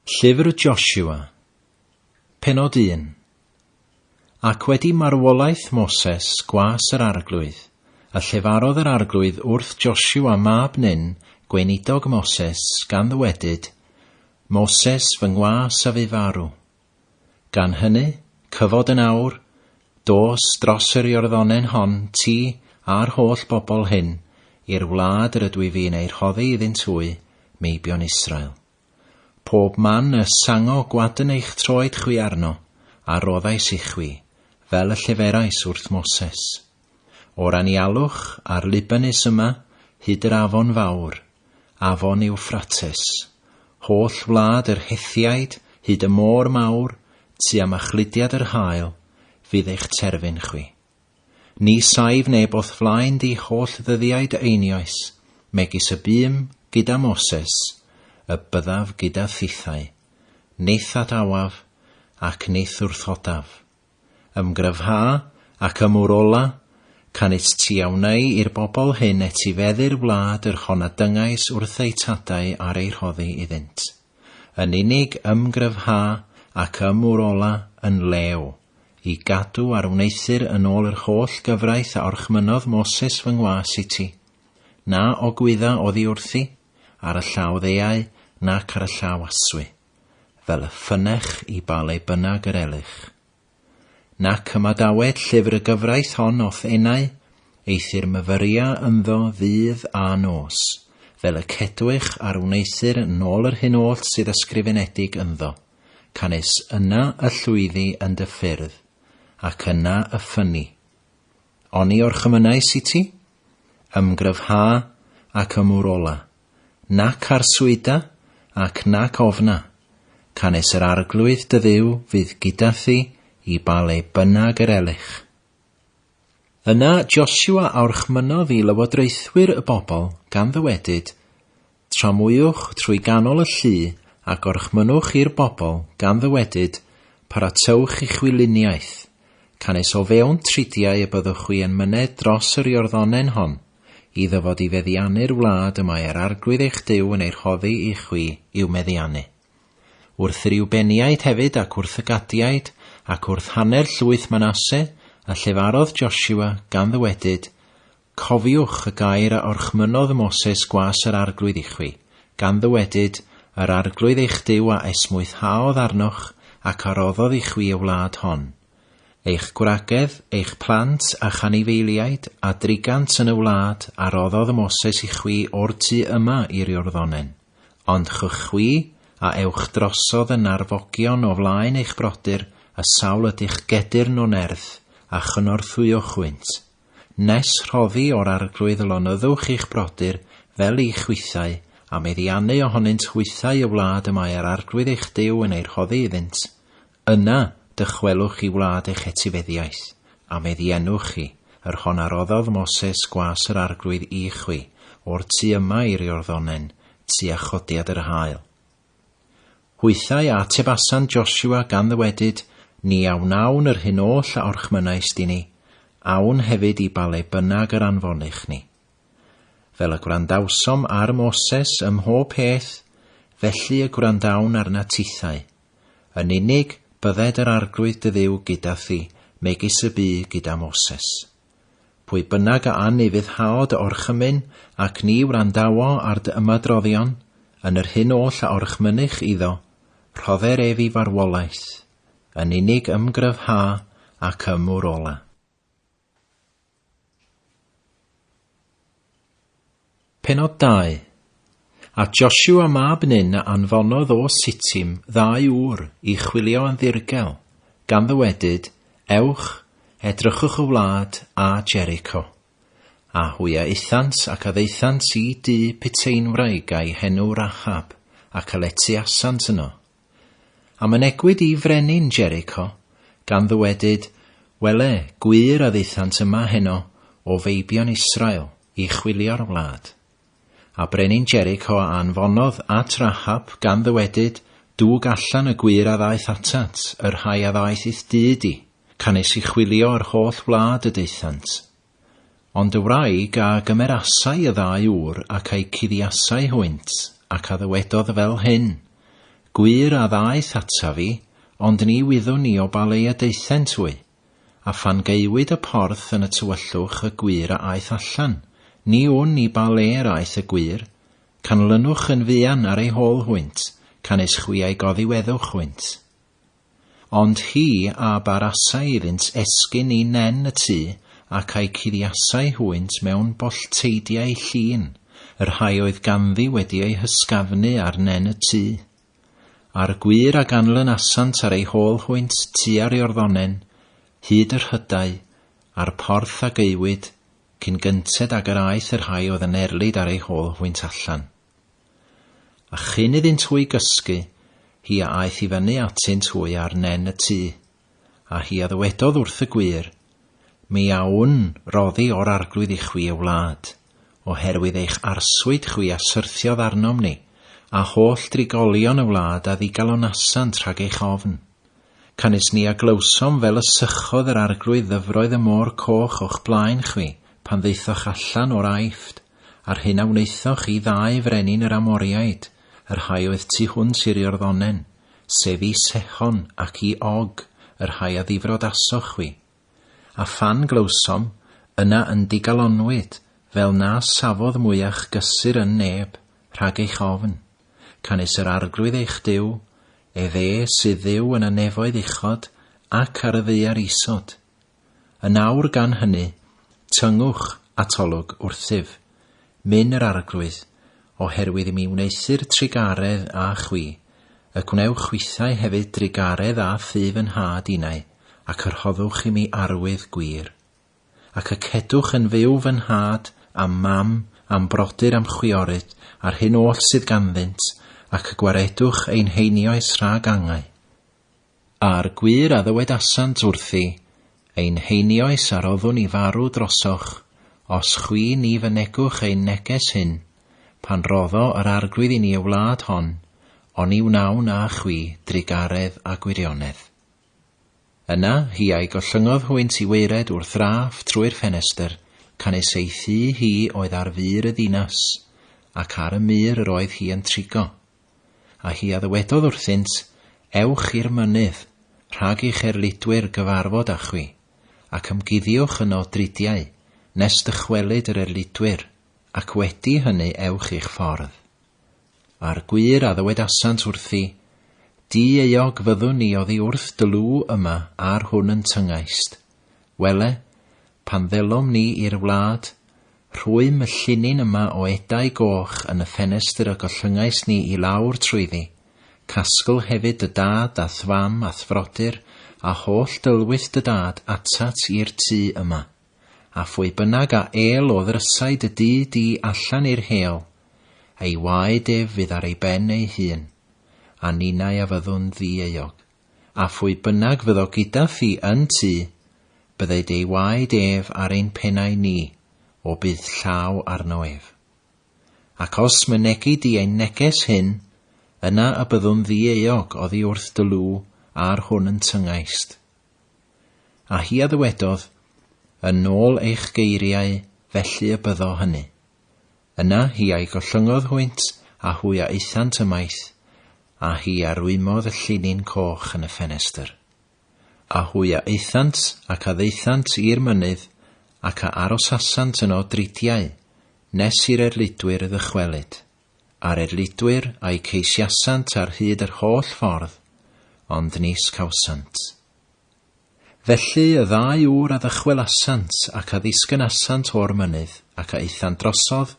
Llyfr Joshua, Pennod un Ac wedi marwolaeth Moses gwas yr arglwydd, a llefarodd yr arglwydd wrth Joshua mab Nun, gweinidog Moses, gan ddywedyd, Moses, fy ngwas a fu farw. Gan hynny, cyfod yn awr, dos dros yr Iorddonen hon, ti, a'r holl bobl hyn, i'r wlad yr ydw i fu'n ei rhoddi iddynt hwy, meibion Israel. Pob man y sango gwadn eich troed chwi arno, a roddais ichwi, fel y lleferais wrth Moses. O'r anialwch a'r Libanus yma hyd yr afon fawr, afon Ewffrates, holl wlad yr Hethiaid hyd y môr mawr tua machludiad yr haul, fydd eich terfyn chwi. Ni saif neb o'th flaen di holl ddyddiau dy einioes, megis y bûm gyda Moses, y byddaf gyda thithau, nith at awaf, ac nith wrthodaf. Ymgryfha ac ymwrola, canys ti a wnei i'r bobl hyn etifeddu'r wlad yr hon a dyngais wrth eu tadau ar ei rhoddi iddynt. Yn unig ymgryfha ac ymwrola yn lew, i gadw ar wneuthur yn ôl yr holl gyfraith a orchmynnodd Moses fy ngwas i ti. Na ogwydda oddi wrthi, ar y llaw ddeuau, nac ar y llaw aswy. fel y ffynech i ba le bynnag yr elych. Nac ymadawed llyfr y gyfraith hon o'th enau, eithr myfyria ynddo ddydd a nos, fel y cedwych ar wneuthur yn ôl yr hyn oll sydd ysgrifenedig ynddo, canys yna y llwyddi yn dy ffyrdd, ac yna y ffynni. Oni orchymynais i ti? Ymgryfha ac ymwrola, nac arswyda, ac nac ofna, canys yr Arglwydd dy Dduw fydd gyda thi i ba le bynnag yr elych. Yna Josua a orchmynnodd i lywodraethwyr y bobl, gan ddywedyd, Tramwywch trwy ganol y llu, a gorchmynnwch i'r bobl, gan ddywedyd, Paratowch i'ch wyliniaeth, canys o fewn tridiau y byddwch chwi yn myned dros yr Iorddonen hon, I ddyfod i feddiannu'r wlad y mae yr Arglwydd eich Duw yn ei rhoddi i chwi i'w meddiannu. Wrth y Riwbeniaid hefyd ac wrth y Gadiaid, ac wrth hanner llwyth Manasse, a llefarodd Josua, gan ddywedyd, Cofiwch y gair a orchmynnodd Moses gwas yr Arglwydd i chwi, gan ddywedyd, Yr Arglwydd eich Duw a esmwythhaodd arnoch, ac a roddodd i chwi y wlad hon. Eich gwragedd, eich plant a'ch anifeiliaid, a drigant yn y wlad a roddodd Moses i chwi o'r tu yma i'r Iorddonen. Ond chwch chwi, a ewch drosodd y narfogion o flaen eich brodyr, a sawl ydych gedyrn o nerth, a chynorthwyo chwynt. Nes rhoddi o'r arglwydd lonyddwch i'ch brodyr, fel i chwithau, a meddiannu ohonynt hwythau y wlad y mae yr arglwydd eich Duw yn ei rhoddi iddynt. Yna, dychwelwch chi wlad eich etifeddiaeth, a meddiennwch chi, yr hon a roddodd Moses gwas yr Arglwydd i chwi, o'r tu yma i'r Iorddonen, tua chodiad yr haul. Hwythau a atebasan Joshua gan ddywedyd, Ni a wnawn yr hyn oll a orchmynaist i ni, awn hefyd i ba le bynnag yr anfonich ni. Fel y gwrandawsom ar Moses ym mhob peth, felly y gwrandawn arna tithau. Yn unig, bydded yr Arglwydd dy Dduw gyda thi, megis y bu gyda Moses. Pwy bynnag a anufuddhaod dy orchymyn, ac ni wrandawo ar dy ymadroddion, yn yr hyn oll a orchmynych iddo, rhodder ef i farwolaeth, yn unig ymgryfha ac ymwrola. Pennod 2. A Josua mab Nun a anfonodd o Sitim ddau ŵr i chwilio yn ddirgel, gan ddywedyd, Ewch, edrychwch y wlad a Jericho. A hwy a aethant ac a ddaethant i dŷ piteinwraig a'i henw Rachab, ac a letiasant yno. A mynegwyd i frenin Jericho, gan ddywedyd, Wele, gwir a ddaethant yma heno o feibion Israel i chwilio'r wlad. A brenin Jericho a anfonodd at Rahab, gan ddywedyd, Dwg allan y gwir a ddaeth atat, y rhai a ddaeth i'th dŷ di, canys i chwilio yr holl wlad y daethant. Ond y wraig a gymerasai y ddau ŵr ac a'u cuddiasai hwynt, ac a ddywedodd fel hyn, Gwir a ddaeth ata fi, ond ni wyddwn ni o ba le y daethent hwy. A phan gaewyd y porth yn y tywyllwch y gwir a aeth allan, ni wn ni ba le yr aeth y gwir, canlynwch yn fuan ar ei hôl hwynt, canys chwi a'i goddiweddwch hwynt. Ond hi a barasai iddynt esgyn i nen y tŷ, ac a'i cuddiasai hwynt mewn bollteidiau llin, y rhai oedd ganddi wedi eu hysgafnu ar nen y tŷ. A'r gwŷr a ganlynasant ar ei hôl hwynt tua'r Iorddonen, hyd y rhydau, a'r porth a gaewyd, cyn gynted ag yr aeth y rhai oedd yn erlid ar ei hôl hwynt allan. A chyn iddynt hwy gysgu, hi a aeth i fyny atynt hwy ar nen y tŷ, a hi a ddywedodd wrth y gwŷr, Mi awn roddi o'r arglwydd i chwi, y wlad, oherwydd eich arswyd chwi a syrthiodd arnom ni, a holl drigolion y wlad a ddigalonasant rhag eich ofn. Canys ni a glywsom fel y sychodd yr arglwydd ddyfroedd y môr coch o'ch blaen chwi, pan ddaethoch allan o'r Aifft, A'r hyn a wnaethoch i ddau frenin yr Amoriaid, y rhai oedd tu hwnt i'r Iorddonen, sef i Sehon ac i Og, y rhai a ddifrodasoch chwi. A phan glywsom, yna yn digalonnwyd, fel na safodd mwyach gysur yn neb, rhag eich ofn. Canys yr Arglwydd eich Duw, ef e sydd Dduw yn y nefoedd uchod ac ar y ddaear isod. Yn awr gan hynny, tyngwch atolwg wrthyf, min yr Arglwydd, oherwydd i mi wneuthur trugaredd â chwi, y gwnewch chwithau hefyd drugaredd â thu fy nhad innau, ac y rhoddwch i mi arwydd gwir. Ac y cedwch yn fyw fy nhad a'm mam a'm brodyr a'm chwiorydd a'r hyn oll sydd ganddynt, ac y gwaredwch ein heinioes rhag angau. A'r gwir a ddywedasant wrthi, Ein heinioes a roddwn i farw drosoch, os chwi ni fynegwch ein neges hyn, pan roddo yr Arglwydd i ni y wlad hon, oni wnawn â chwi drugaredd a gwirionedd. Yna, hi a'i gollyngodd hwynt i waered wrth Raff trwy'r ffenestr, canys ei thŷ hi oedd ar fur y ddinas, ac ar y mur yr oedd hi yn trigo. A hi a ddywedodd wrthynt, Ewch i'r mynydd, rhag i cherlidwyr gyfarfod â chwi, ac ymguddiwch yno dridiau, nes dychwelyd yr erlidwyr, ac wedi hynny ewch i'ch ffordd. A'r gwir a ddywedasant wrthi, Di-euog fyddwn ni oddi wrth dy lw yma ar hwn yn tyngaist, Wele, pan ddelom ni i'r wlad, rhwym y llinyn yma o edau goch yn y ffenestr y gollyngais ni i lawr trwyddi, casgl hefyd dy dad a'th fam a'th frodyr a holl dylwyth dy dad atat i'r tŷ yma, a phwy bynnag a êl o ddrysau dy dŷ di allan i'r hêl, ei waed ef fydd ar ei ben ei hun, a ninnau a fyddwn ddi-euog. A phwy bynnag fyddo gyda fi yn tŷ, byddai dei waed ef ar ein pennau ni, o bydd llaw arno ef. Ac os mynegi di ein neges hyn, yna y byddwn ddi-euog oddi wrth dy lw ar hwn yn tyngaist. A hi a ddywedodd, Yn nôl eich geiriau, felly y byddo hynny. Yna hi a'i gollyngodd hwynt, a hwy a aethant ymaith, a hi a rwymodd y llinyn coch yn y ffenestr. A hwy a aethant, ac a ddaethant i'r mynydd, ac a arosasant yno dridiau, nes i'r erlidwyr ddychwelyd. A'r erlidwyr a'u ceisiasant ar hyd yr holl ffordd, ond nis cawsant. Felly y ddau ŵr a ddychwelasant ac a ddisgynasant o'r mynydd, ac a aethant drosodd,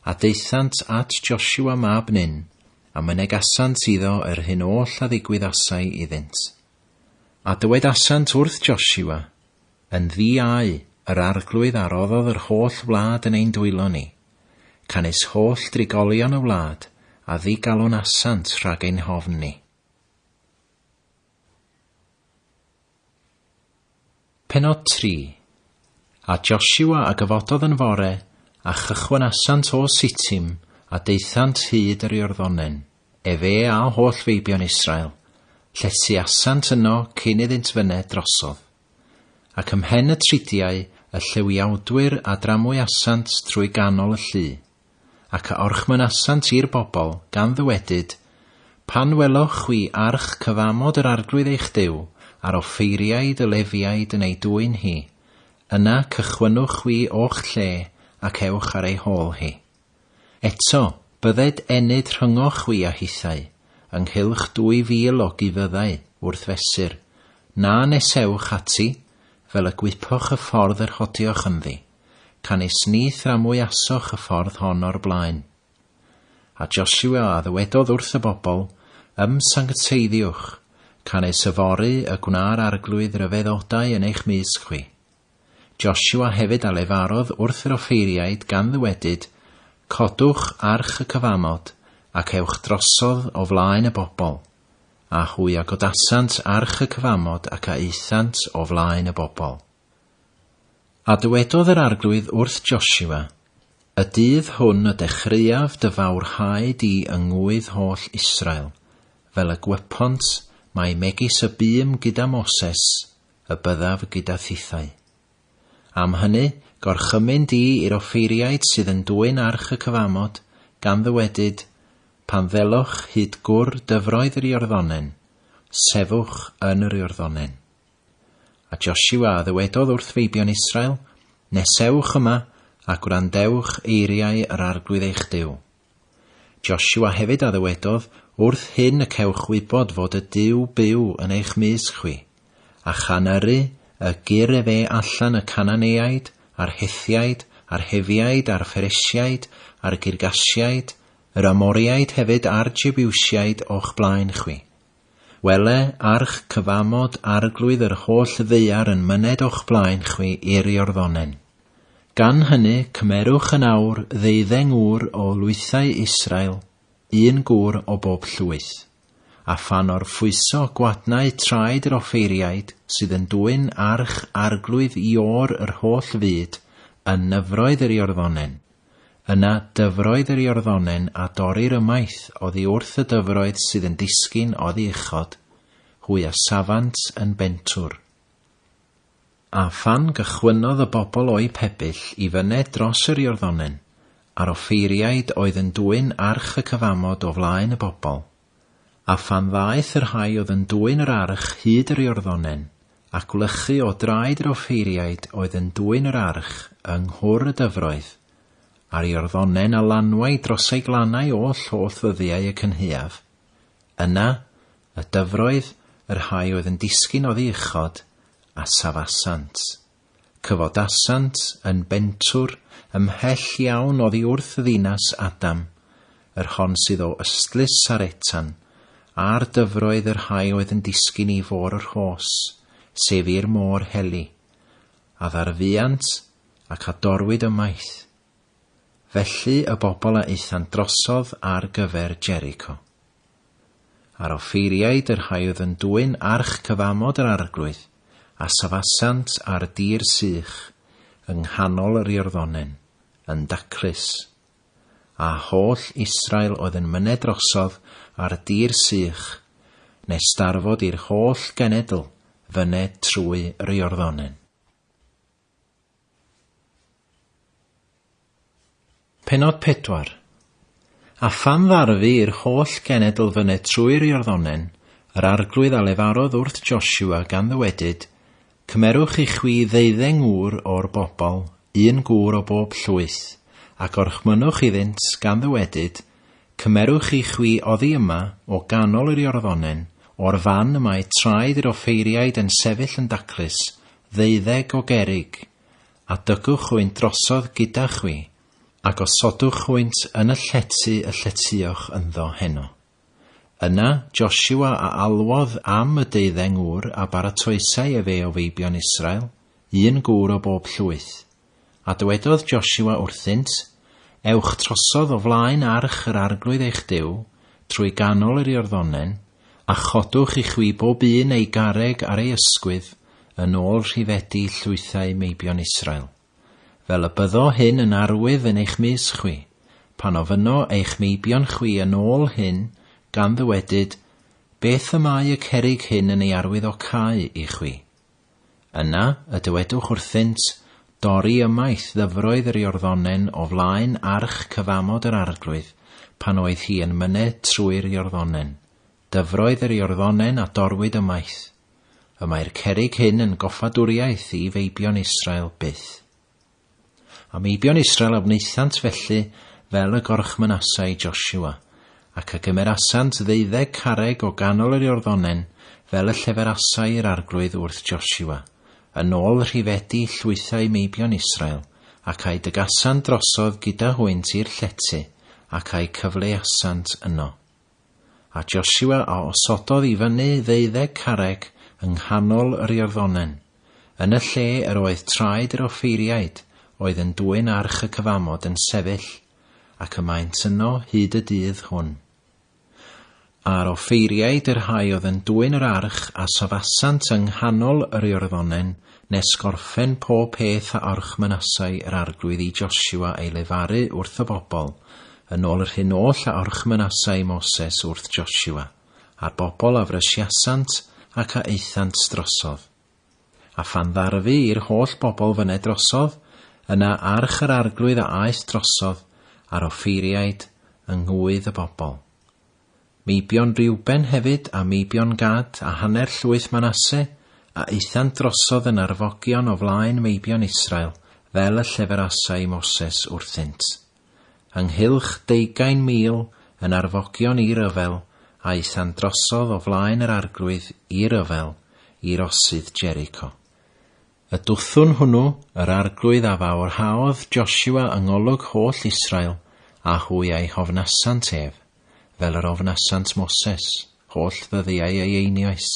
a daethant at Josua mab Nun, a mynegasant iddo yr hyn oll a ddigwyddasai iddynt. A dywedasant wrth Josua, Yn ddi au yr arglwydd a roddodd yr holl wlad yn ein dwylo ni, canys holl drigolion y wlad a ddigalonasant rhag ein hofn ni. Pennod 3. A Josua a gyfododd yn fore, a chychwynasant o Sitim, a daethant hyd yr Iorddonen, efe a holl feibion Israel, lletyasant yno cyn iddynt fyned drosodd. Ac ymhen y tridiau y llywiawdwyr a dramwyasant trwy ganol y llu, ac a orchmynasant i'r bobl, gan ddywedyd, Pan weloch chwi arch cyfamod yr Arglwydd eich Duw, a'r offeiriaid y Lefiaid yn ei dwyn hi, yna cychwynnwch chwi o'ch lle ac ewch ar ei hôl hi. Eto, bydded enyd rhyngoch chwi a hithau, ynghylch dwy fil o gufyddau, wrth fesur, na nesewch ati, fel y gwypoch y ffordd yr hodioch ynddi. Canys ni thramwyasoch y ffordd hon o'r blaen. A Josua a ddywedodd wrth y bobl, Ymsancteiddiwch, canys yfory y gwna'r Arglwydd ryfeddodau yn eich mysg chwi. Josua hefyd a lefarodd wrth yr offeiriaid gan ddywedyd, Codwch arch y cyfamod, ac ewch drosodd o flaen y bobl. A hwy a godasant arch y cyfamod ac a aethant o flaen y bobl. A dywedodd yr Arglwydd wrth Josua, Y dydd hwn y dechreuaf dy fawrhau di yng ngŵydd holl Israel, fel y gwepont mai megis y bûm gyda Moses y byddaf gyda thithau. Am hynny, gorchymyn di i'r offeiriaid sydd yn dwyn arch y cyfamod, gan ddywedyd, Pan ddelwch hyd gwr dyfroedd yr Iorddonen, sefwch yn yr Iorddonen. A Josiwa a ddywedodd wrth feibion Israel, Nesewch yma, a gwrandewch eiriau yr Arglwydd eich Duw. Josiwa hefyd a ddywedodd, Wrth hyn y cewch wybod fod y Duw byw yn eich mysg chwi, a chan yrru y gyrr efe allan y Cananeaid, a'r Hethiaid, a'r Hefiaid, a'r Pheresiaid, a'r Girgasiaid, yr Amoriaid hefyd a'r Jebiwsiaid o'ch blaen chwi. Wele, arch cyfamod Arglwydd yr holl ddaear yn myned o'ch blaen chwi i'r Iorddonen. Gan hynny, cymerwch yn awr ddeuddeng ŵr o lwythau Israel, un gŵr o bob llwyth. A phan orffwyso gwadnau traed yr offeiriaid sydd yn dwyn arch Arglwydd i ôr yr holl fyd, yn nyfroedd yr Iorddonen, Yna dyfroedd yr Iorddonen a dorrir ymaith oddi wrth y dyfroedd sydd yn disgyn oddi uchod, hwy a safant yn bentwr. A phan gychwynnodd y bobl o'u pebyll i fyned dros yr Iorddonen, a'r offeiriaid oedd yn dwyn arch y cyfamod o flaen y bobl, A phan ddaeth y rhai oedd yn dwyn yr arch hyd yr Iorddonen, a gwlychu o draed yr offeiriaid oedd yn dwyn yr arch yng nghwr y dyfroedd, a'r Iorddonen a lanwai dros ei glannau oll holl ddyddiau y cynhaeaf, yna, y dyfroedd, y rhai oedd yn disgyn oddi uchod, a safasant. Cyfodasant yn bentwr ymhell iawn oddi wrth ddinas Adam, yr hon sydd o ystlys ar etan, a'r dyfroedd yr rhai oedd yn disgyn i fôr yr hos, sef i'r môr heli, a ddarfuant ac a dorwyd ymaith. Felly y bobl a aethant drosodd ar gyfer Jericho. Ar offeiriaid yr haeodd yn dwyn arch cyfamod yr arglwydd, a safasant ar dir sych, yng nghanol yr Iorddonen, yn daclus. A holl Israel oedd yn myned drosodd ar dir sych, nes darfod i'r holl genedl fyned trwy yr Iorddonen. Pennod 4. A phan ddarfu i'r holl genedl fyned trwy'r Iorddonen, yr arglwydd a lefarodd wrth Josua, gan ddywedyd, Cymerwch i chwi ddeuddeng gŵr o'r bobl, un gŵr o bob llwyth, a gorchmynnwch iddynt, gan ddywedyd, Cymerwch i chwi oddi yma, o ganol yr Iorddonen, o'r fan y mae traed yr offeiriaid yn sefyll yn daclus, ddeuddeg o gerrig, a dygwch hwynt drosodd gyda chwi, a gosodwch hwynt yn y llety y lletyoch ynddo heno. Yna Josua a alwodd am y deuddeng ŵr a baratoesai efe o feibion Israel, un gŵr o bob llwyth. A dywedodd Josua wrthynt, Ewch trosodd o flaen arch yr Arglwydd eich Duw, trwy ganol yr Iorddonen, a chodwch i chwi bob un ei garreg ar ei ysgwydd yn ôl rhifedi llwythau meibion Israel, fel y byddo hyn yn arwydd yn eich mys chwi, pan ofynno eich meibion chwi yn ôl hyn, gan ddywedyd, Beth y mae y cerrig hyn yn ei arwydd o cau i chwi? Yna, y dywedwch wrthynt, Dorri ymaith ddyfroedd yr Iorddonen o flaen arch cyfamod yr Arglwydd, pan oedd hi yn myned trwy'r Iorddonen, dyfroedd yr Iorddonen a dorwyd ymaith. Y mae'r cerrig hyn yn goffadwriaeth i feibion Israel byth. A Meibion Israel a wnaethant felly fel y gorchmynasa i Josua, ac a gymerasant ddeuddeg carreg o ganol yr Iorddonen fel y lleferasai i'r arglwydd wrth Josua, yn ôl rhifedi llwythau meibion Israel, ac a'u dygasant drosodd gyda hwynt i'r llety, ac a'u cyfleuasant yno. A Josua a osododd i fyny ddeuddeg carreg yng nghanol yr Iorddonen, yn y lle yr oedd traed yr offeiriaid oedd yn dwyn arch y cyfamod yn sefyll, ac y maent yno hyd y dydd hwn. A'r offeiriaid y rhai oedd yn dwyn yr arch a safasant yng nghanol yr Iorddonen nes gorffen pob peth a orchmynasai yr Arglwydd i Josua ei lefaru wrth y bobl, yn ôl yr hyn oll a orchmynasai Moses wrth Josua, a'r bobl a frysiasant ac a aethant drosodd. A phan ddarfu i'r holl bobl fyned drosodd, yna arch yr Arglwydd a aeth drosodd, a'r offeiriaid, yng ngŵydd y bobl. Meibion Reuben hefyd, a meibion Gad, a hanner llwyth Manasse, a aethant drosodd yn arfogion o flaen meibion Israel, fel y lleferasai Moses wrthynt. Ynghylch deugain mil yn arfogion i ryfel a aethant drosodd o flaen yr arglwydd i ryfel, i rosydd Jericho. Y dwthwn hwnnw, yr Arglwydd a fawrhaodd Josua yng ngolwg holl Israel, a hwy a'i hofnasant ef, fel yr ofnasant Moses, holl ddyddiau ei einioes.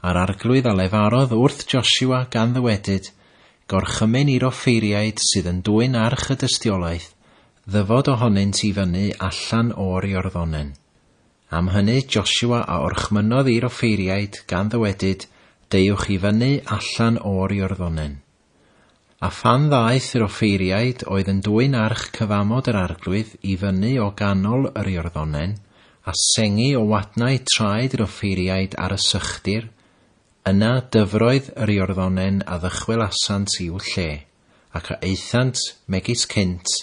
A'r Arglwydd a lefarodd wrth Josua gan ddywedyd, Gorchymyn i'r offeiriaid sydd yn dwyn arch y dystiolaeth ddyfod ohonynt i fyny allan o'r Iorddonen. Am hynny Josua a orchmynnodd i'r offeiriaid, gan ddywedyd, Deuwch i fyny allan o'r Iorddonen. A phan ddaeth yr offeiriaid oedd yn dwyn arch cyfamod yr Arglwydd i fyny o ganol yr Iorddonen, a sengi o wadnau traed yr offeiriaid ar y sychdir, yna dyfroedd yr Iorddonen a ddychwelasant i'w lle, ac a aethant, megis cynt,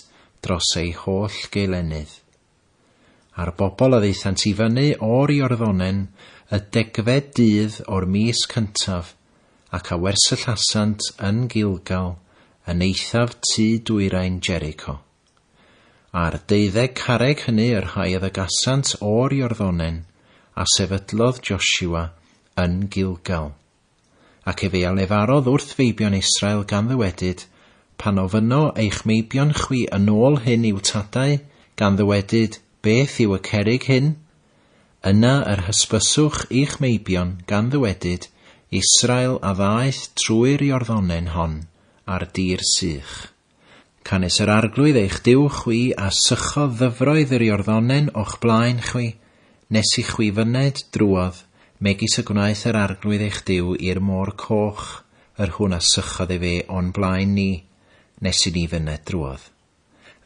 dros ei holl geulennydd. A'r bobl a ddaethant i fyny o'r Iorddonen y degfed dydd o'r mis cyntaf, ac a wersyllasant yn Gilgal, yn eithaf tu dwyrain Jericho. A'r deuddeg carreg hynny y rhai a ddygasant o'r Iorddonen, a sefydlodd Joshua yn Gilgal. Ac efe a lefarodd wrth feibion Israel gan ddywedyd, Pan ofynno eich meibion chwi yn ôl hyn i'w tadau, gan ddywedyd, Beth yw y cerrig hyn? Yna yr hysbyswch i'ch meibion, gan ddywedyd, Israel a ddaeth trwy'r Iorddonen hon, ar dir sych. Canys yr Arglwydd eich Duw chwi a sychodd ddyfroedd yr Iorddonen o'ch blaen chwi, nes i chwi fyned drwodd, megis y gwnaeth yr Arglwydd eich Duw i'r Môr Coch, yr hwn a sychodd ef e o'n blaen ni, nes i ni fyned drwodd.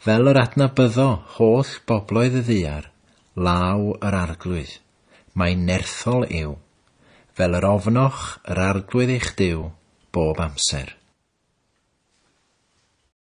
Fel yr adnabyddo holl bobloedd y ddaear, law yr Arglwydd. Mae'n nerthol yw, fel yr ofnoch yr Arglwydd eich Duw bob amser.